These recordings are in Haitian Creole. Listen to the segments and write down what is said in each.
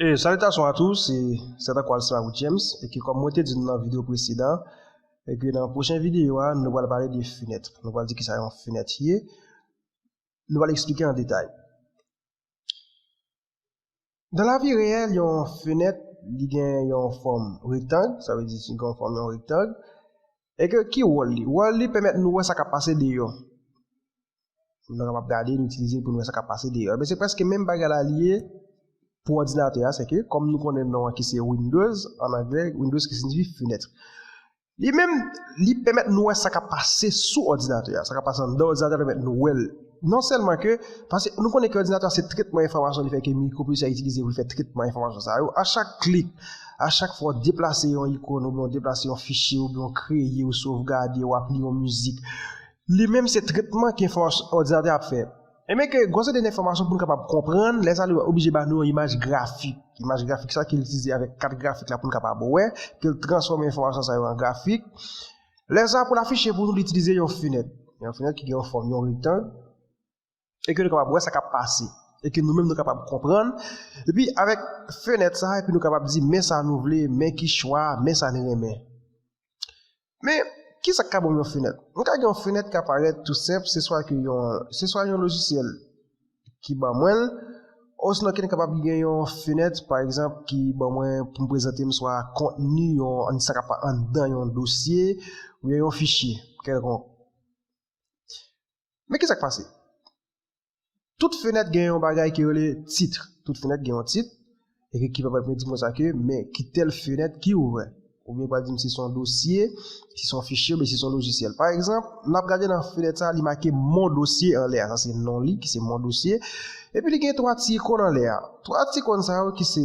E salitasyon a tou, se Sè Tankou Alcimabue James, e ke kòm mwen te di nou nan video presedan, e ke nan pwochen video a, nou pral pale de fenèt. Nou pral di kisa yon fenèt ye, nou pral eksplike an detay. Nan lavi reyèl, yon fenèt, li gen yon fòm rektang, sa vle di si gen yon fòm yon rektang, e ke ki wòl li? Wòl li pèmèt nou wè sa kap pase deyò. Pou nou kapab gade, nou itilize l pou nou wè sa k ap pase deyò. Enben, se prèske menm bagay la li ye pou òdinatè a, sèke kòm nou konnen non an ki se Windows, an anglè, Windows ki siyifi fenèt. Li menm, li pèmèt nou wè sa k ap pase sou òdinatè a, sa k ap pase anndan òdinatè a pèmèt nou wè l. Non sèlman ke, paske nou konnen ke òdinatè a se trètman enfòmasyon li fè ke mikropwosesè a itilize pou l fè trètman enfòmasyon sa yo. A chak klik, a chak fwa w deplase yon ikon oubyen w deplase yon fichye oubyen w kreye, w sovgade, w ap li yon mizik, Li menm se tretman ke fòs òdinatè ap fè. Ebyen ke gon seri de enfòmasyon pou nou kapab konprann, lè sa li oblije ba nou yon imaj grafik. Imaj grafik sa ke li itilize avèk kat grafik la pou nou kapab wè, ke li transfòme enfòmasyon sa yo an grafik. Lè sa pou l afiche pou nou li itilize yon fenèt. Yon fenèt ki gen yon fòm yon rektang. e ke nou kapab wè sa kap pase, e ke nou menm nou kapab konprann, epi avèk fenèt sa, epi nou kapab di men sa nou vle, men ki chwa, men sa nou renmen. Men, ki sa k ka ban m yon fenèt? Mwen ka gen yon fenèt ka parèt tou senp, se swa ke yon, se swa yon lojisyèl ki ban mwen l, osnon ke m kapab gen yon fenèt, pa egzanp, ki ban mwen pou m prezante m swa kontni yon, sa kap anndan yon dosye, oubyen yon fichye kèlkonk. Men ki sa k pase? Tout fenèt gen yon bagay ki rele titre. Tout fenèt gen yon titre. Ekip ki pa pral di m konsa ke, men ki tèl fenèt ki ouvè. Ou byen pral di m si son dosye, si son fichye, ou byen si son lojisyèl. Pa egzanp, n ap gade nan fenèt sa a, li make Mon dossier anlè a. Sa se non li ki se Mon dossier. Epi li gen 3 ti ikon anlè a. 3 ti ikon sa yo ki se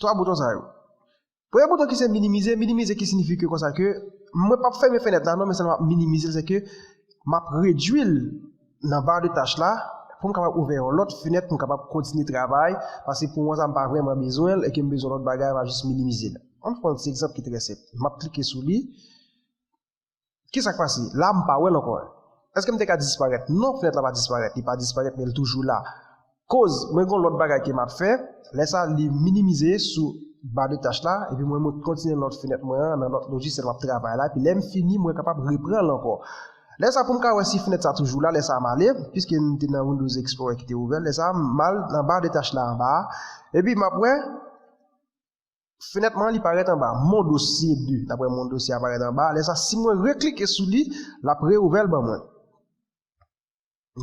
3 bouton sa yo. Premye bouton ki se minimize, minimize ki sinifi ke konsa ke mwen pap fèmen fenèt la non men sèlman minimize l se ke map redwi l nan bar de tach la pou m kapab ouvè yon lòt fenèt pou m kapab kontinye travay paske pou mwen sa m pa vrèman bezwen l e ke m bezwen lòt bagay map jis minimize l. Ann pran yon ti egzanp ki trè senp. Map klike sou li. Ki sa k pase? La, m pa wè l ankò. Èske m te ka disparèt? Non, fenèt la pa disparèt. Li pa disparèt, men li toujou la. Koz, mwen gen yon lòt bagay ke m ap fè. Lè sa, li minimize sou ba de tach la, epi mwen mwen kontinye nan lòt fenèt mwen an, nan lòt lojisèl m ap travay la, epi lè m fini, mwen kapab repran l ankò. Lè sa, pou m ka wè si fenèt sa toujou la, lè sa m ale, piske m te nan Windows Explorer ki te ouvè, lè sa, m al nan ba de tach la anba a, epi m ap wè. Fenèt man li parèt anba Mon dossier 2. Daprè Mon dossier a parèt anba a, lè sa si mwen reklike sou li, l ap reouvè l ban mwen.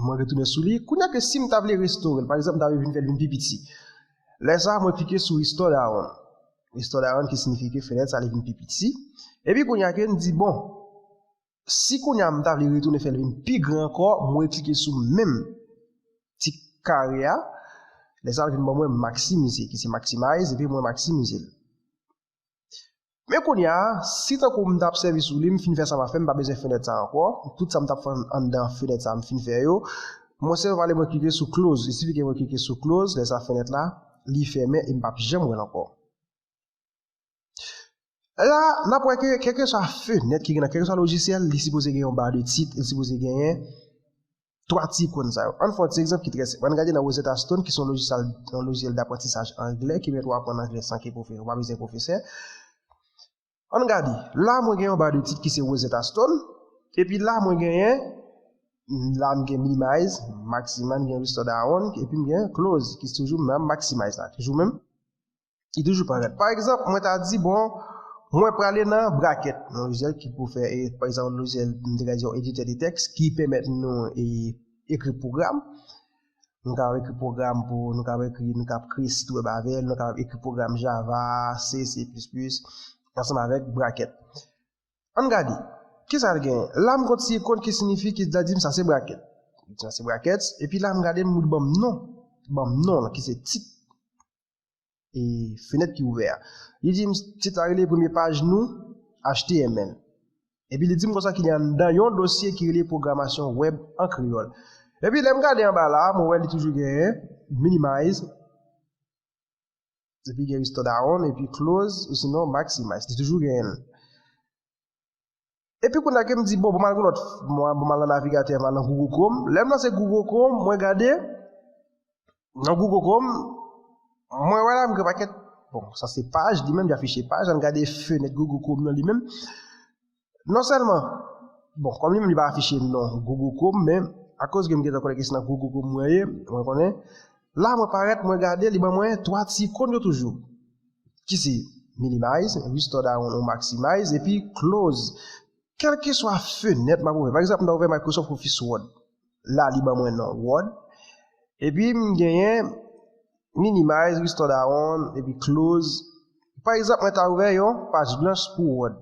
Mwen retounen sou li. Kounye a ke si m ta vle restore l, pa egzanp m ta vle vin fè l vin pi piti. Lè sa mwen klike sou Restore Diagram. Restore Diagram ki signifie ke fenèt sa li vin pi piti. Epi kounye a ke m di bon. Si kounya m ta vle retounen fè l vin pi gran ankò, m reklike sou menm ti kare a, lè sa l vin ban mwen maksimize ki se maximize epi mwen maksimize l. Men kounya si tankou m ta ap sèvi sou li m fin fè sa m ap fè m pa bezwen fenèt sa ankò, tout sa m ta ap fè anndan fenèt sa m fin fè yo, mwen sèlman pale mwen klike sou close, il sifi ke mwen klike sou close, lè sa fenèt la li fèmen e m pa p janm wè l ankò. La, n ap wè ke kèlkeswa fenèt ki gen nan kèlkeswa lojisyèl, li sipoze gen yon ba de tit, li sipoze genyen 3 ti ikon sa yo. An n fè yon ti egzanp ki trè senp. An n gade nan Rosetta Stone ki se yon lojisyèl daprantisaj angle ki pèmèt ou aprann angle san ke ou pa bezwen pwofesè. An n gade, la mwen gen yon ba de tit ki se Rosetta Stone, epi la mwen genyen, la m gen Minimize, Maximize, m gen Restore Down, epi m gen Close ki se toujou menm Maximize la, toujou menm. ki toujou parèt. Pa egzanp, mwen ta di, bon, mwen prale nan brakèt, nan lojyèl ki pou fè, e, pa egzanp, lojyèl, mwen te ka di yon editè de tèks ki pèmèt nou e, ekri pwogram. Nou kapab ekri pwogram pou, nou kapab ekri, nou kapab kreye sit wèb avè l, nou kapab ekri pwogram Java, C, C++, ansanm avèk brakèt. Ann gade, ki sa l genyen? La m konn si, konn ki sinifi, ki sa l di m, sa se brakèt. Sa se brakèt, epi la m gade m, li ban m non, li ban m non l, ki se tit. e fenèt ki ouvè a. Li di m tit la rele premye paj nou html. Epi li di m konsa ki gen anndan yon dosye ki rele pwogramasyon wèb an kreyòl. Epi lè m gade anba la a, mwen wè li toujou gen minimize, epi gen restore down, epi close, osinon maximize. Li toujou gen l. Epi kounye a ke m di bon pou m al gen lòt mwen pou m al nan navigatè mwen al nan Google Chrome, lè m lanse Google Chrome mwen gade nan Google Chrome mwen wè la m gen yon pakèt bon sa se paj li menm li afiche paj an n gade fenèt Google Chrome nan li menm non sèlman bon kòm li menm li pa afiche non Google Chrome men akoz ke m gen tan konnen ke se nan Google Chrome mwen ye mwen konnen la mwen parèt mwen gade li ban mwen 3 ti ikon yo toujou. ki se minimize, restore da ou maximize, epi close. Kèlkeswa fenèt m ap ouvè, pa egzanp m ta ouvè Microsoft Office Word, la li ban mwen non Word, epi m genyen minimize, restore da ou, epi close, pa egzanp mwen ta ouvè yon paj blanch pou Word.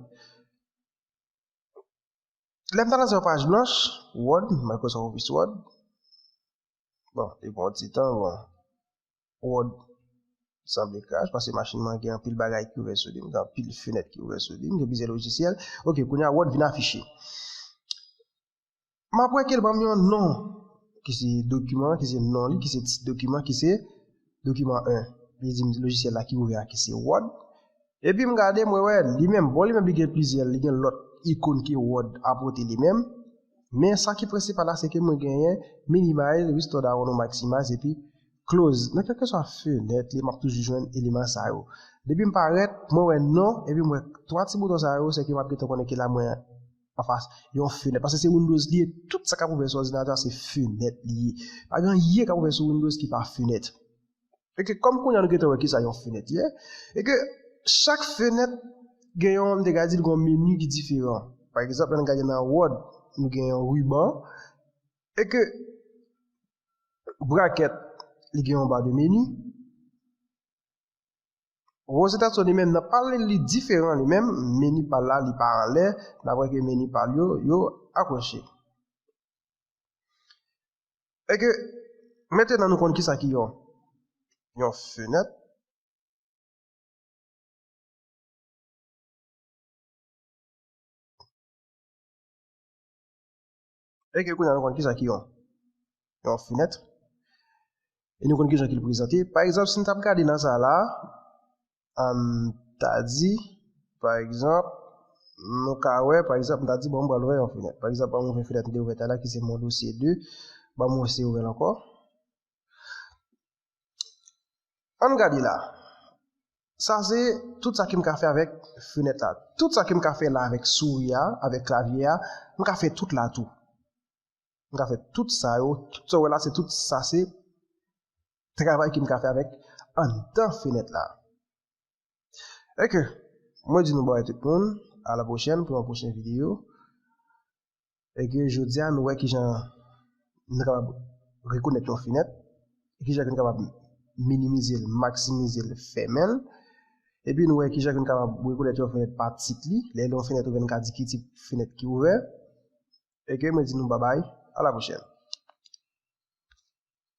Lè m ta lanse yon paj blanch, Word, Microsoft Office Word, bon, li pran yon ti tan, bon. Prod, Sanble crash paske machin mwen gen anpil bagay ki ouvè sou li, m gen anpil fenèt ki ouvè sou li, m gen plizyè lojisyèl. Ok, kounye a Word vin afiche. M ap wè ke l ban m yon non ki se dokiman, ki se non li, ki se tit dokiman ki se dokiman 1. Li di m lojisyèl la ki ouvè a ki se Word. Epi m gade, mwen wè, li menm, bon li menm li gen plizyè, li gen lòt ikon ke Wòd apote li menm, men sa ki prensipal la se ke mwen genyen Minimize, Restore Down ou Maximize epi Close. Nan kèlkeswa fenèt li, m ap toujou jwenn eleman sa yo. Depi m parèt, mwen wè non, epi m wè twa ti bouton sa yo, se ke m ap gentan konnen ke la mwen anfas yon fenèt. Paske se Windows li ye, tout sa k ap ouvè sou òdinatè a se fenèt li ye. Pa gen anyen k ap ouvè sou Windows ki pa fenèt. E ke kòm kounye a nou gentan wè kisa yon fenèt ye, e ke chak fenèt gen yon, m te ka di l gen yon meni ki diferan. Pa egzanp, lè n gade nan Word, nou gen yon ruban, e ke brakèt li gen yon ba de meni. Rosetta Stone li menm nan pa l li li diferan li menm, meni pa l la li pa anlè, daprè ke meni pa l yo, yo akwoche. E ke mete nan nou konn ki sa ki yon yon fenèt. E ke kou nan nou konn ki sa ki yon yon fenèt. E nou konn ki sa ki l prezante. Pa egzanp, si nou tap gade nan sa la, An n ta di, pa egzanp, nou ka wè, pa egzanp, m ta di, bon, m pral ouvè yon fenèt. Pa egzanp, ban m ouvè fenèt m te ouvè talè a ki se Mon Dossier 2. Ban m wè si yo ouvè l ankò. An n gade la. Sa se tout sa ke m ka fè avèk fenèt la. Tout sa ke m ka fè la avèk souri a, avèk klavye a, m ka fè tout la tou. M ka fè tout sa yo. Tout sa w wè la se tout sa se Travay ke m ka fè avèk anndan fenèt la. Eke, mwen di nou bòy tout moun, a la pwochèn pou yon pwochen videyo. Eke, jodi a nou wè ki jan nou kapab rekonèt yon fenèt, e ki jan ke nou kapab minimize l, maksimize l, fèmen l. Epi nou wè ki jan ke nou kapab rekonèt yon fenèt pa tit li, lè l yon fenèt ouvè nou ka di ki tip fenèt ki ouvè. Eke, mwen di nou babay, a la pwochèn.